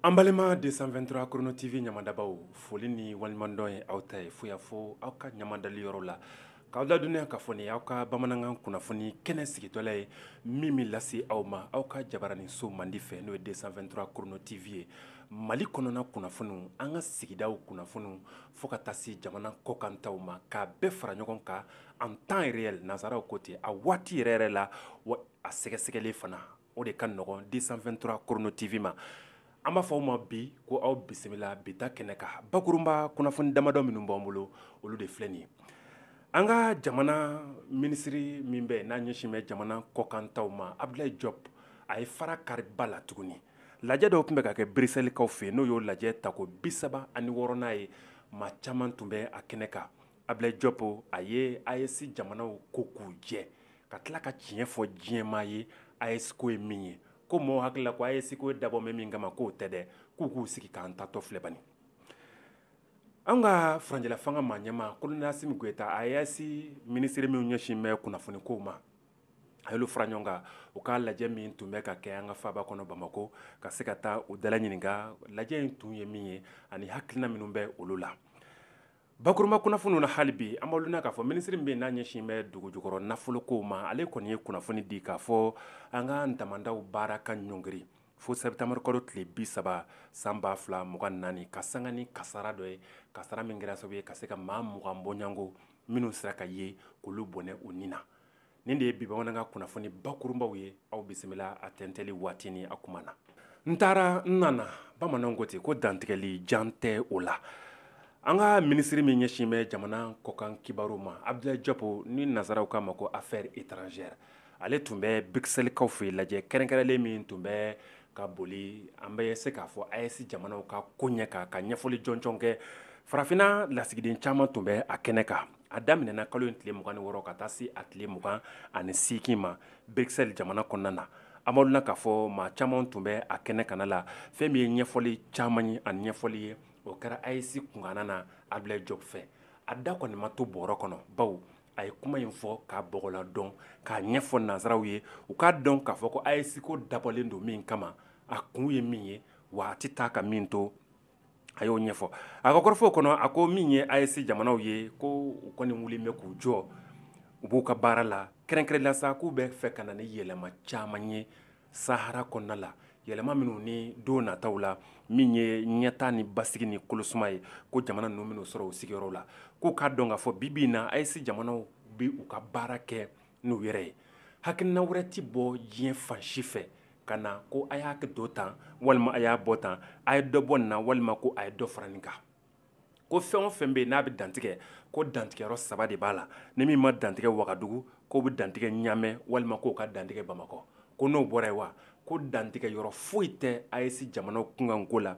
An balima 223 Chrono TV ɲamadabaw foli ni waleɲumandɔn ye aw ta ye fo y'a fɔ aw ka ɲamadali yɔrɔ la k'aw ladɔnniya k'a fɔ nin aw ka bamanankan kunnafoni kɛnɛ sigitɔla ye min bɛ lase aw ma aw ka jabaranin so mandi fɛ n'o ye 223 Chrono TV ye Mali kɔnɔna kunnafoniw an ka sigidaw kunnafoniw fo ka taa se jamana kɔkantaw ma k'a bɛɛ fara ɲɔgɔn kan en temps réel nanzaraw ko ten a waati yɛrɛ yɛrɛ la wa a sɛgɛsɛgɛlen fana o de ka nɔgɔn 223 Chrono TV ma an b'a fɔ aw ma bi ko aw bisimila bi ta kɛnɛ kan bakurunba kunnafoni damadɔ minnu b'an bolo olu de filɛ nin ye an ka jamana minisiri min bɛ n'a ɲɛsin bɛ jamana kɔkantaw ma Abdoulaye Diop a ye fara kariba la tuguni lajɛ dɔ tun bɛ ka kɛ Bruxelleskaw fɛ yen n'o y'o lajɛ tako bi saba ani wɔɔrɔnan ye maa caman tun bɛ a kɛnɛ kan Abdoulaye Diop a ye AES jamanaw ko k'u jɛ ka tila ka tiɲɛ fɔ diɲɛmaa ye AES ko ye min ye ko maaw hakilila ko AES ko dabɔ min kama k'o tɛ dɛ k'u k'u sigi k'an taatɔ filɛ bani an ka furancɛla fanga maa ɲɛmaa colonel Assimi Goïta AES minisiri min ɲɛsin bɛ kunnafoni ko ma a y'olu fara ɲɔgɔn kan u ka lajɛ min tun bɛ ka kɛ an ka faaba kɔnɔ bamakɔ ka se ka taa u dala ɲininka lajɛ in tun ye min ye ani hakilina minnu bɛ olu la Bakurunba kunnafoniw na hali bi an b'aw ladɔnniya k'a fɔ minisiri min bɛ n'a ɲɛsin bɛ dugu jukɔrɔ nafolokow ma ale kɔni ye kunnafoni di k'a fɔ an ka damandaw baara ka ɲɔngiri fo septembre kalo tile 30 san 2024 ka sanga ni kasara dɔ ye kasara min kɛra sababu ye ka se ka maa mugan bɔɲɔgɔnko minnu sera ka ye k'olu bɔnɛ u ni na. nin de ye bi bamanankan kunnafoni bakurunbaw ye aw bisimila a tɛntɛli waati ni a kuma na n taara n nana bamananw ko ten ko dantigɛli jan tɛ o la an ka minisiri min ɲɛsin bɛ jamana kɔkan kibaru ma Abdoulaye Diop ni nazaraw k'a ma ko affaires étrangères ale tun bɛ Bruxelleskaw fɛ lajɛ kɛrɛnkɛrɛnlen min tun bɛ ka boli an bɛ se k'a fɔ AES jamanaw ka ko ɲɛ kan ka ɲɛfɔli jɔnjɔn kɛ farafinna lasigiden caman tun bɛ a kɛnɛ kan a daminɛna kalo in tile mugan ni wɔɔrɔ ka taa se a tile mugan ani seegin ma Bruxelles jamana kɔnɔna na an b'aw ladɔnniya k'a fɔ maa caman tun bɛ a kɛnɛ kanna la fɛn min ye ɲɛfɔli caman ye ani ɲɛfɔli ye o kɛra AES kunkanna na Abdoulaye Diop fɛ a da kɔni ma to bɔrɔ kɔnɔ bawo a ye kuma in fɔ k'a bɔgɔladɔn k'a ɲɛfɔ nansaraw ye u k'a dɔn k'a fɔ ko AES ko dabɔlen don min kama a kun ye min ye wa a tɛ taa ka min to a y'o ɲɛfɔ a ka kɔrɔfɔw kɔnɔ a ko min ye AES jamanaw ye ko u kɔni wulilen bɛ k'u jɔ u b'u ka baara la kɛrɛnkɛrɛnla sa k'u bɛ fɛ ka na ni yɛlɛma caman ye sahara kɔnɔna la yɛlɛma minnu ni don nataw la min ye ɲɛtaa ni basigi ni kolosuma ye ko jamana ninnu minnu sɔrɔ u sigiyɔrɔ la k'u k'a dɔn k'a fɔ bi bi in na AES jamanaw bɛ u ka baara kɛ n'u yɛrɛ ye hakilina wɛrɛ tɛ bɔ diɲɛ fan si fɛ ka na ko a y'a don tan walima a y'a bɔ tan a ye dɔ bɔ nin na walima ko a ye dɔ fara nin kan ko fɛn o fɛn bɛ yen n'a bɛ dantigɛ ko dantigɛyɔrɔ saba de b'a la ni min ma dantigɛ wagadugu k'o bɛ dantigɛ ɲamɛ walima k'o ka dantigɛ bamakɔ ko n'o bɔra yen wa ko dantigɛyɔrɔ foyi tɛ AES jamana kunkanko la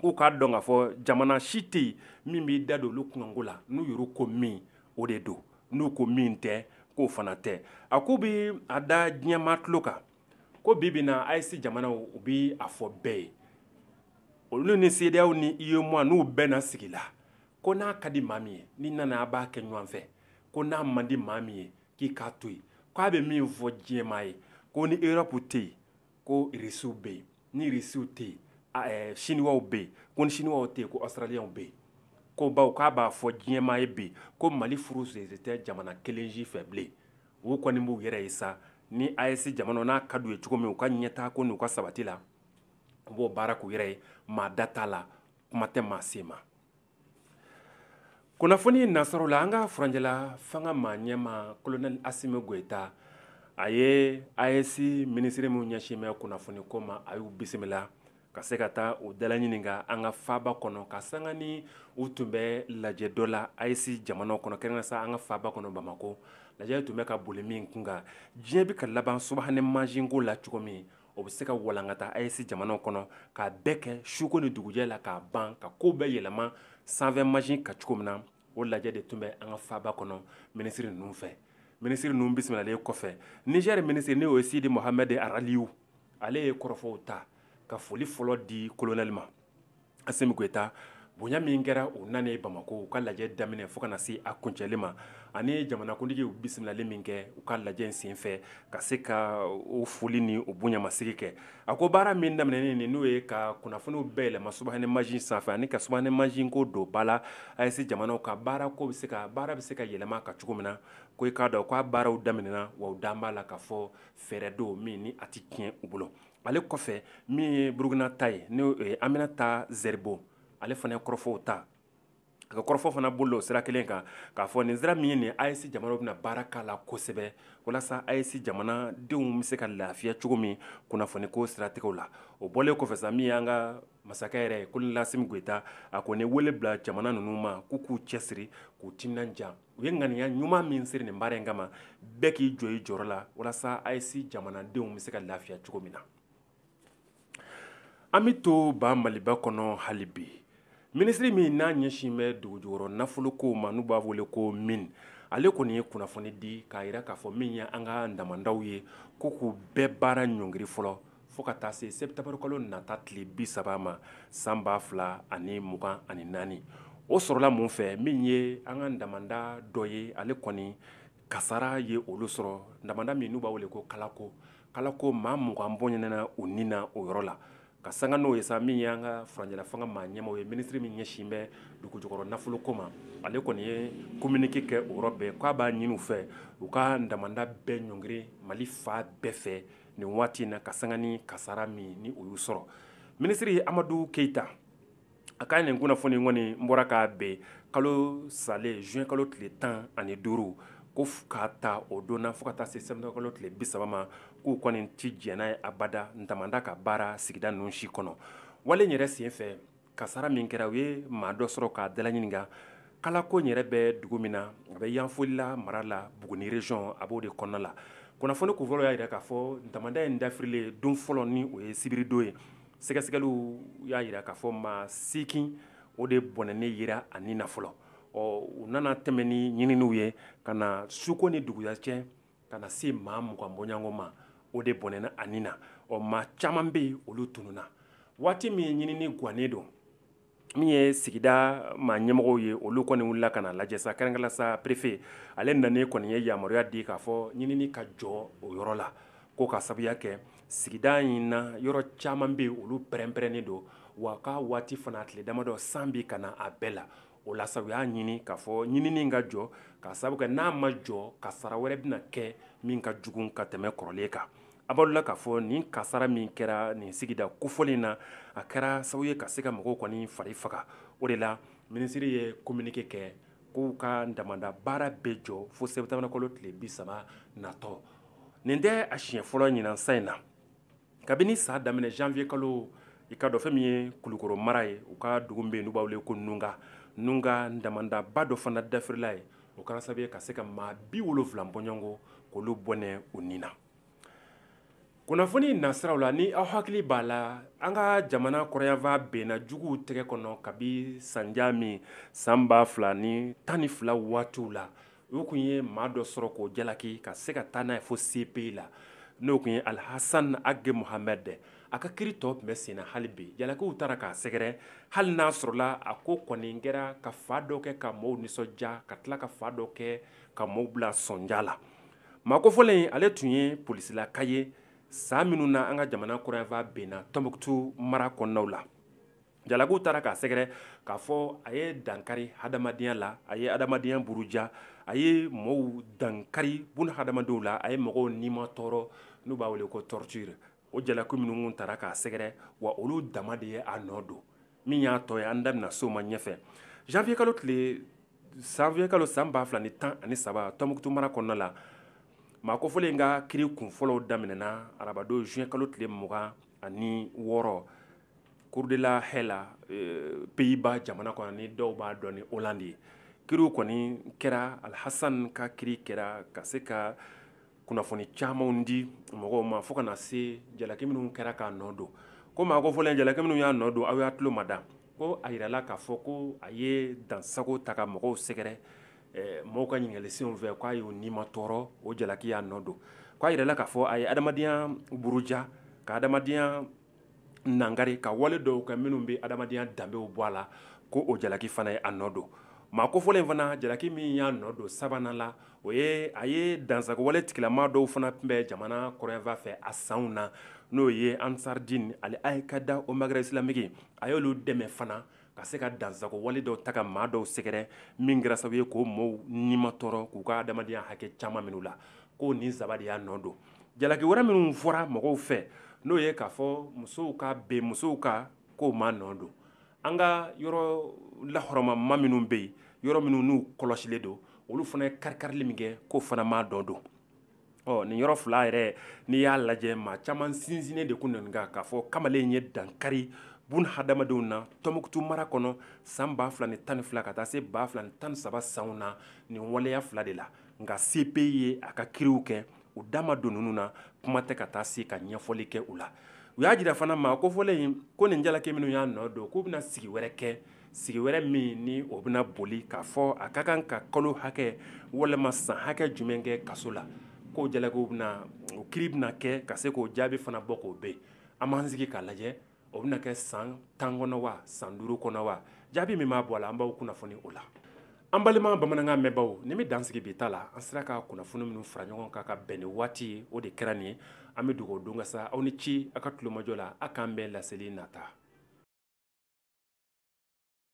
k'u k'a dɔn k'a fɔ jamana si tɛ yen min b'i da don olu kunkanko la n'u yɛrɛ ko min o de don n'u ko min tɛ k'o fana tɛ a ko u bɛ a da diɲɛmaa tulo kan ko bi bi na AES jamana u bɛ a fɔ bɛɛ ye olu ni CEDEAO ni UEMOA n'u bɛɛ na sigi la ko n'a ka di maa min ye n'i nana an b'a kɛ ɲɔgɔn fɛ ko n'a man di maa min ye k'i k'a to yen k'a bɛ min fɔ diɲɛmaa ye ko ni erɔpu tɛ yen Ko irisiw bɛ yen ni irisiw tɛ yen siniwaw bɛ yen ko ni siniwaw tɛ yen ko ɔsitaraliyaw bɛ yen ko bawo k'a b'a fɔ diɲɛmaa ye bi ko mali furu sen tɛ jamana kelen si fɛ bilen u kɔni b'u yɛrɛ ye sa ni AES jamana n'a ka d'u ye cogo min u ka ɲɛtaa ko n'u ka sabati la u b'o baara k'u yɛrɛ ye maa da t'a la kuma tɛ maa se ma kunnafoni nasɔrɔ la an ka furanjɛla fanga maa ɲɛma kolonɛli asimi goyita a ye AES minisiri min ɲɛsin bɛ kunnafoni ko ma a y'u bisimila ka se ka taa u dalaɲininka an ka faaba kɔnɔ ka sanga ni u tun bɛ lajɛ dɔ la AES jamana kɔnɔ kɛrɛnkɛrɛnnen sa an ka faaba kɔnɔ bamakɔ lajɛ tun bɛ ka boli min kunkan diɲɛ bɛ ka laban subahana mansinko la cogo min o bɛ se ka walankata AES jamanaw kɔnɔ k'a bɛɛ kɛ suko ni dugujɛ la k'a ban ka ko bɛɛ yɛlɛma sanfɛ mansin kan cogo min na o lajɛ de tun bɛ an ka faaba kɔnɔ minisiri ninnu fɛ minisiri ninnu bisimilalen kɔfɛ nizɛri minisiri n'o ye sidi mohamɛdi araliyu ale ye kɔrɔfɔw ta ka foli fɔlɔ di kolonɛli ma asimi goyita bonya min kɛra u nanen bamakɔ u ka lajɛ daminɛ fo ka na se a kuncɛli ma ani jamanakuntigi bisimilali min kɛ u ka lajɛ in senfɛ ka se ka o foli ni o bonyamasegin kɛ a ko baara min daminɛnen nin n'o ye ka kunnafoniw bɛɛ yɛlɛma subahana mansin sanfɛ ani ka subahana mansin ko don ba la AES jamanaw ka baara ko bɛ se ka baara bɛ se ka yɛlɛma ka cogo min na ko e k'a dɔn k'a baaraw daminɛna wa u da b'a la k'a fɔ fɛɛrɛ don min ni a tɛ tiɲɛ u bolo ale kɔfɛ min ye burukina ta ye n'o ye aminata zɛribo ale fana ye kɔrɔfɔw ta a ka kɔrɔfɔ fana bolila o sira kelen kan k'a fɔ nin sira min ye nin AES jamanaw bɛna baara k'a la kosɛbɛ walasa AES jamanadenw bɛ se ka lafiya cogo min kunnafoni ko siratigɛ la o bɔlen kɔfɛ min y' ka Masakɛ yɛrɛ ye colonel Assimi Goïta a kɔni wele bila jamana ninnu ma k'u k'u cɛsiri k'u timinanja u ye ŋaniya ɲuman min siri nin baara in kama bɛɛ k'i jɔ i jɔyɔrɔ la walasa AES jamanadenw bɛ se ka lafiya cogo min na an bɛ to ban maliba kɔnɔ hali bi minisiri min n'a ɲɛsin bɛ dugujukɔrɔ nafolo ko ma n'u b'a wele ko mine ale kɔni ye kunnafoni di k'a jira k'a fɔ min ye an ka damandaw ye ko k'u bɛɛ baara ɲɔngiri fɔlɔ fo ka taa se septembre kalo nata tile bi saba ma san ba fila ani mugan ani naani o sɔrɔla mun fɛ min ye an ka damanda dɔ ye ale kɔni kasara ye olu sɔrɔ damanda min n'u b'a wele ko kalako kalako maa mugan bɔnɛna u ni na o yɔrɔ la ka sanga n'o ye sa min ye an ka furancɛla fanga maa ɲɛmɔgɔ ye minisiri min ɲɛsin bɛ dugujukɔrɔ nafoloko ma ale kɔni ye kominike kɛ o yɔrɔ bɛɛ k'a b'a ɲini u fɛ u ka damanda bɛɛ ɲɔngiri mali fan bɛɛ fɛ nin waati in na ka sanga ni kasara min ni o y'u sɔrɔ minisiri amadu keyita a ka nin kunnafoni kɔni n bɔra k'a bɛn kalo salen juin kalo tile tan ani duuru ko k'a ta o don na fo ka taa se septembre kalo tile bi saba ma k'u kɔni ti jɛn n'a ye abada damanda ka baara sigida ninnu si kɔnɔ wale yɛrɛ sen fɛ Kasara min kɛra u ye maa dɔ sɔrɔ k'a dala ɲininka kalako yɛrɛ bɛ dugu min na a bɛ yanfolila mara la Buguni région a b'o de kɔnɔna la kunnafoni kunfɔlɔ y'a jira k'a fɔ damanda in dafirilen don fɔlɔ ni o ye sibiridon ye sɛgɛsɛgɛliw y'a jira k'a fɔ maa seegin o de bɔnɛnen yera a ni na fɔlɔ ɔ u nana tɛmɛn ni ɲininiw ye ka na suko ni duguya cɛ ka na se maa mugan bɔɲɔgɔnko ma o de bɔnɛna a ni na ɔ maa caman bɛ yen olu tununna waati min ɲinini gannen don min ye sigida maa ɲɛmɔgɔw ye olu kɔni wulila ka na lajɛ sa kɛrɛnkɛrɛnnenya sa perefe ale nanen kɔni ye yamaruya di k'a fɔ ɲinini ka jɔ o yɔrɔ la ko ka sabuya kɛ sigida in na yɔrɔ caman bɛ yen olu pɛrɛnpɛrɛnnen don wa k'a waati fana tile damadɔ san bi ka na a bɛɛ la o la sa u y'a ɲini k'a fɔ ɲinini ka jɔ ka sabu kɛ n'a ma jɔ kasara wɛrɛ bɛna kɛ min ka jugu ka tɛmɛ kɔrɔlen kan a b'aw la k'a fɔ nin kasara min kɛra nin sigida kofɔlen na a kɛra sababu ye ka se ka mɔgɔw kɔni fari faga o de la minisiri ye kominike kɛ k'u ka damanda baara bɛɛ jɔ fo septembre kalo tile bi saba natɔ nin tɛ a siɲɛ fɔlɔ ɲinan san in na kabini san daminɛ janvier kalo i k'a dɔn fɛn min ye kulukoro mara ye u ka dugu bɛ yen n'u b'a wele ko nunga nunga damandaba dɔ fana dafirila yen o kɛra sababu ye ka se ka maa bi wolonfila bɔɲɔgɔnko k'olu bɔnɛ u ni na kunnafoni nasiraw la ni aw hakili b'a la an ka jamana kɔrɔnyanfan binna juguw tɛgɛ kɔnɔ kabi sandiya min san ba fila ni tan ni fila waatiw la U tun ye maa dɔ sɔrɔ k'o jalaki ka se ka taa n'a ye fo CPI la n'o tun ye alihassan age muhamɛdi a ka kiri tɔ tun bɛ sen na hali bi jalakiw taara k'a sɛgɛrɛ hali n'a sɔrɔla a ko kɔni kɛra ka fan dɔ kɛ ka maaw nisɔndiya ka tila ka fan dɔ kɛ ka maaw bila sɔnja la maa kofɔlen ale tun ye polisilaka ye san minnu na an ka jamana kɔrɔnyanfan binna tɔnbukutu mara kɔnɔnaw la jalakiw taara k'a sɛgɛrɛ k'a fɔ a ye dankari hadamadenya la a ye hadamadenya buruja a ye mɔgɔw dankari buna hadamadenw la a ye mɔgɔw nima tɔɔrɔ n'u b'a wele ko torture o jalaki minnu taara k'a sɛgɛrɛ wa olu dama de ye a nɔ don min y'a tɔ ye an da bɛna s'o ma ɲɛfɛ janvier kalo tile janvier kalo san ba fila ni tan ani saba tɔnbukutu mara kɔnɔna la maa kofɔlen ka kiri kunfɔlɔw daminɛna arabadon juin kalo tile mugan ani wɔɔrɔ Cour de la Haye la Pays-Bas jamana kɔnɔ ni dɔw b'a dɔn ni Hollande ye kiriw kɔni kɛra alihassan ka kiri kɛra ka se ka kunnafoni camanw di mɔgɔw ma fo ka na se jalaki minnu kɛra k'a nɔ don ko maa kofɔlen jalaki minnu y'a nɔ don aw y'a tulo mada ko a jirala k'a fɔ ko a ye dansago ta ka mɔgɔw sɛgɛrɛ Mɔgɔw ka ɲininkalisenw fɛ k'a y'o nima tɔɔrɔ o jalaki y'a nɔ don k'a jirala k'a fɔ a ye adamadenya buruja ka adamadenya nangari ka wale dɔw kɛ minnu bɛ adamadenya danbew bɔ a la ko o jalaki fana ye a nɔ don maa kofɔlen fana jalaki min y'a nɔ don sabanan la o ye a ye dansago wale tigilama dɔw fana tun bɛ jamana kɔrɔnyanfan fɛ a sanw na n'o ye Ansar Dine Al-Qaïda au Maghreb islamique a y'olu dɛmɛ fana ka se ka dansago wale dɔw ta ka maa dɔw sɛgɛrɛ min kɛra sababu ye k'o maaw nima tɔɔrɔ k'u ka adamadenya hakɛ caman minɛ u la ko nin saba de y'a nɔ don jalaki wɛrɛ minnu fɔra mɔgɔw fɛ n'o ye k'a fɔ musow ka bin musow kan k'o m'a nɔ don an ka yɔrɔ lahɔrɔmama minnu bɛ yen yɔrɔ minnu n'u kɔlɔsilen don olu fana ye kari-karili min kɛ k'o fana m'a nɔ don Ɔ nin yɔrɔ fila yɛrɛ n'i y'a lajɛ maa caman sinsinnen de kun nin kan k'a fɔ kamalen ye dankari bon hadamadenw na tɔnbukutu mara kɔnɔ san ba fila ni tan ni fila ka taa se ba fila tan saba sanw na nin waleya fila de la nka CPI ye a ka kiriw kɛ u da ma don ninnu na kuma tɛ ka taa se ka ɲɛfɔli kɛ u la u y'a jira fana maa kofɔlen ko nin jalaki minnu y'a nɔ don k'u bɛna sigi wɛrɛ kɛ sigi wɛrɛ min ni o bɛna boli k'a fɔ a ka kan ka kalo hakɛ walima san hakɛ jumɛn kɛ kaso la k'o jalaki bɛna o kiri bɛna kɛ ka se k'o jaabi fana bɔ k'o bɛɛ an b'an sigi k'a lajɛ o bɛna kɛ san tan kɔnɔ wa san duuru kɔnɔ wa jaabi min b'a bɔ a la an b'aw kunnafoni o la An balima bamanankan mɛnbaaw nin bɛ dan sigi bi ta la an sera ka kunnafoni minnu fara ɲɔgɔn kan ka bɛn ni waati ye o de kɛra nin ye an bɛ dugawu don ka sa aw ni ci aw ka tulomajɔ la a k'an bɛn laseli nata